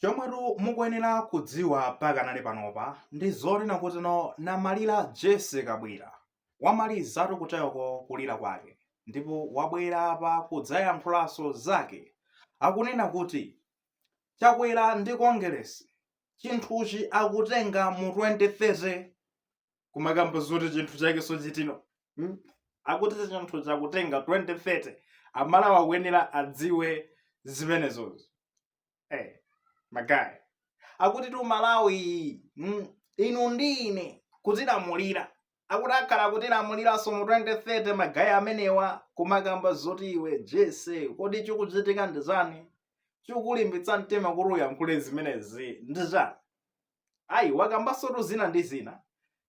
chomwetu mukuyenera kudziwa pakanali panopa ndi zonena kuti no namalira jesse kabwila wamalizatu kutayoko kulira kwake ndipo wabwera apa kudzayankhulanso zake akunena kuti chakwera ndi kongeresi chinthuchi akutenga mu 2030 kumakamba zoti chinthu chake chokha chitino hmm? akuti chinthuchi akutenga 2030 amalawi akuyenera adziwe zimenezozi hey, magayi akuti tu malawi mm, inu ndi ine kutilamulira akuti akhala kutilamuliranso mu 2030 magayi amenewa kumakamba zoti iwe jesse kodi chikuchitika ndi chani chikulimbitsa mtima kuti uyankhule zimenezi ndi chani ayi wakambansotu zina ndi zina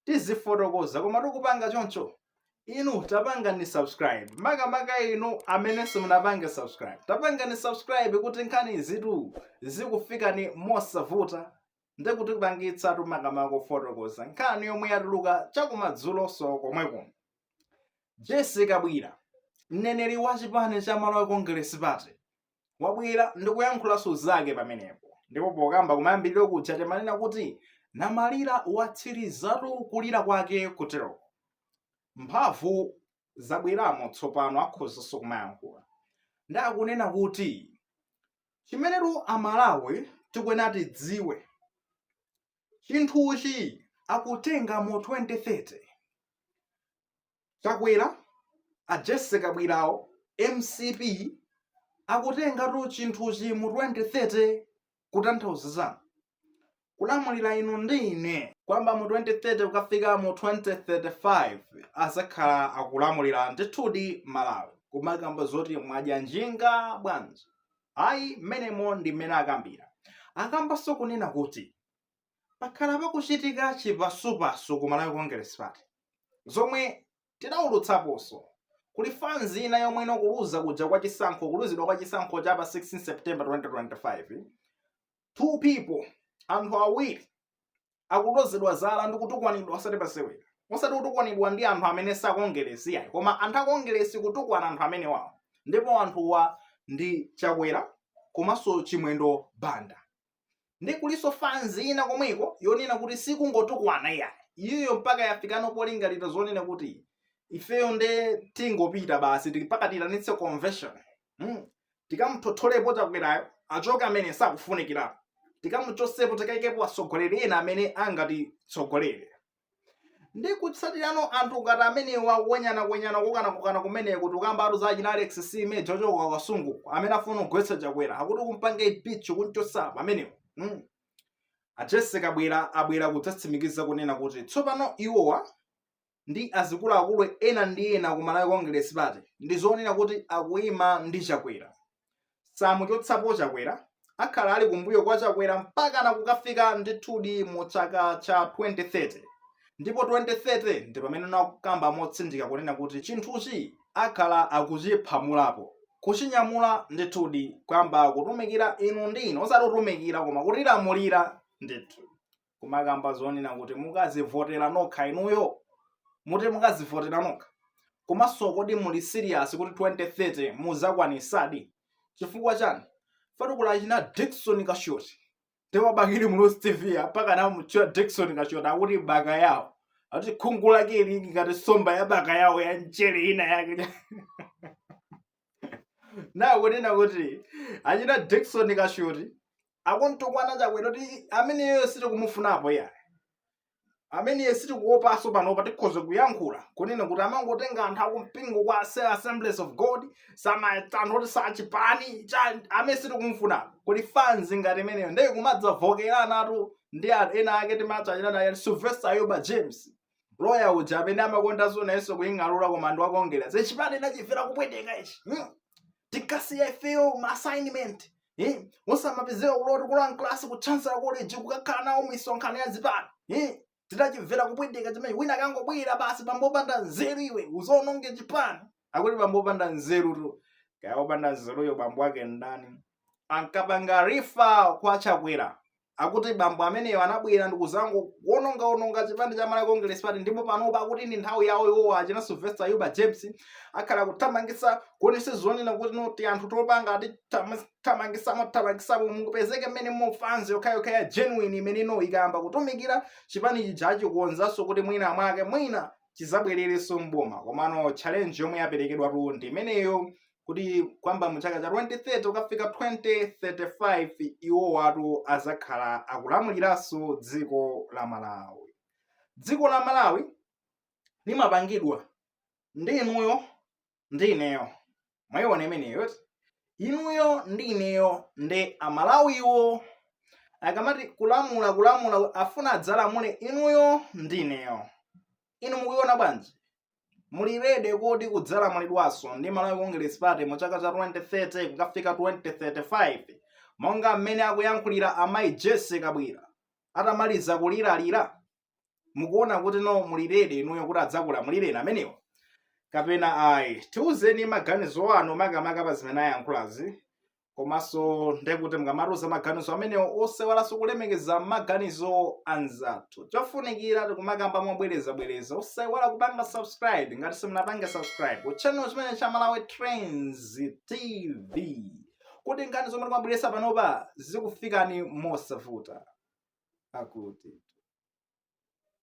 tizifotokoza koma tikupanga choncho inu tapangani subscribe makamaka inu amene simunapange subscribe tapangani subscribe kuti nkhani izitu zikufikeni mosavuta ndi kutipangitsatu makamaka kufotokoza nkhani yomwe yatuluka chakumadzulonso komweko jesse kabwila mneneri wa chipani cha malawi congress party wabwera ndi kuyankhulanso zake pamenepo ndipo pokamba kumayambiriro kuja timanena kuti namalira watsirizatu kulira kwake kuteroko mphamvu zabweramo tsopano akhozanso kumayankhula ndi akunena kuti chimenetu amalawi tikuyenera tidziwe chinthuchi akutenga mu 2030 Chakwera, a Jesse Kabwilawo, mcp akutengatu chinthuchi mu 2030 kutanthauza za kulamulira inu ndi ine kuyamba mu 2030 kukafika mu 2035 azakhala akulamulira ndithudi Malawi kumakamba zoti mwadya njinga bwanji ayi mmenemo ndi mmene akambira akambanso kunena kuti pakhala pakuchitika chipasupasu ku Malawi Congress Party zomwe tidaulutsaponso kuli fanzi ina yomwe ndi kuluza kuja kwa chisankho kuluzidwa kwa chisankho cha pa 16 September 2025 two people anthu awiri akulozedwa zala ndi kutukwanidwa osati pasewera osati kutukwanidwa ndi anthu amene sakongeresi yayi koma anthu akongeresi kutukwana anthu amenewawo ndipo anthuwa ndi chakwera komanso chimwendo banda ndi kulinso fanzi ina komweko yonena kuti sikungotukwana iyayi iyoyo mpaka yafikano polingalira zonena kuti ifeyo nde tingopita basi tikaitanitse convention mm. tikamuthotholepo chakwerayo achoke amene sakufunikirapo tikamuchosepo tikaikepo atsogoleri ena amene angatitsogolere ndi kutsatirano anthu ngati amenewa kuwenyanawenyana kukanakukana kumeneko tikukambatu za achina alex meja ochoka ku kasungu amene afuna kugwetsa chakwera akuti kumpanga ipichi kunchosa pamenewo mm. a jesse kabwila abwera kudzatsimikiza kunena kuti tsopano iwowa ndi azikuluakulu ena ndi ena ku malawi congress party ndi zoona kuti akuyima ndi chakwera samuchotsapo chakwera akhala ali kumbuyo kwa chakwera mpakana kukafika ndithudi mu chaka cha 2030 ndipo 2030 ndi pamene nakukamba motsindika kunena kuti chinthuchi akhala akuchiphumulapo kuchinyamula ndithudi kuyamba kutumikira inu ndi ine osati kutumikira koma kutilamulira ndithu kumakamba zonena kuti mukazivotera nokha inuyo muti mukazivotera nokha komanso kodi muli serious kuti 2030 muzakwanisadi chifukwa chani fatukula achina dickson kashoti pa bakili muluzi tv apaka nawo mutchula dickson kashoti akuti bakayawo akuti khungu lake ili ngati somba ya bakayawo ya mchere ina yake nakunena kuti achina dickson kashoti akumtukwana chakwera kuti ameneyo sitikumufunapo iyayi ameneyo sitikuopaso panopa tikhoza kuyankhula kunena kuti amangotenga anthu akumpingo kwa Ase- assemblies of god osamaona anthu achipani cha- amene sitikumufunapo kodi fanzi ngati imeneyo ndiye kumadzavomerana tu ndi anthu ena ake timati achina loya sylvester ayuba james loya uja amene amakonda zonenso kuying'alula koma ndi wa congress chipani ndinachimvera kupweteka ichi hmm? tikasiya ifeyo ma assignment hmm? usamapezeka ku law tikulowa mklasi ku chancellor college kukakhala nawo misonkhano ya zipani hmm? tinachimvera kupweteka chimene wina kangobwera basi bambo opanda nzeru iwe uzawononge chipani akuti bambo opanda nzerutu kaya opanda nzeruyo bambo wake ndani ankapanga refer kwa chakwera akuti bambo ameneyo anabwera ndikuzangoononga ononga chipani cha malawi congress party ndipo panopa akuti ndi nthawi yawo iwowa achina sylvester ayuba james akhala kuthamangisa kuonetsa zonena kuti not anthu topanga ati thamangisamo thamangisamo kupezeke mmenemu fanzi yokhayokha ya genuine imeneno ikayamba kutumikira chipani chijachi kukonzanso kuti mwina mwake mwina chizabwererenso mboma komano challenge yomwe yaperekedwatu ndi imeneyo kuti kuyamba mu chaka cha 2030 kukafika 2035 iwowatu azakhala akulamuliranso dziko la malawi dziko la malawi limapangidwa ndi inuyo ndi ineyo mwayiona imeneyo eti? inuyo ndi ineyo ndi amalawiwo akamati kulamula kulamula afuna adzalamule inuyo ndi ineyo inu mukuiona bwanji muli ready kuti kudzalamulidwanso ndi malawi congress party mu chaka cha 2030 kukafika 2035 monga mmene akuyankhulira amayi jessie kabwila atamaliza kuliralira mukuona kuti no muli ready inuyo kuti adzakulamulireni amenewo kapena ayi tiuzeni maganizo anu makamaka pa zimene ayankhulazi komanso ndekuti mukamatiuza maganizo amenewo osaiwalanso kulemekeza maganizo anzathu chofunikira tikumakamba mobwerezabwereza osaiwala kupanga subscribe ngati simunapange subscribe ku channel chimenechi cha malawi trends tv kuti nkhani zomwe timabweresa panopa zikufikani mosavuta akuti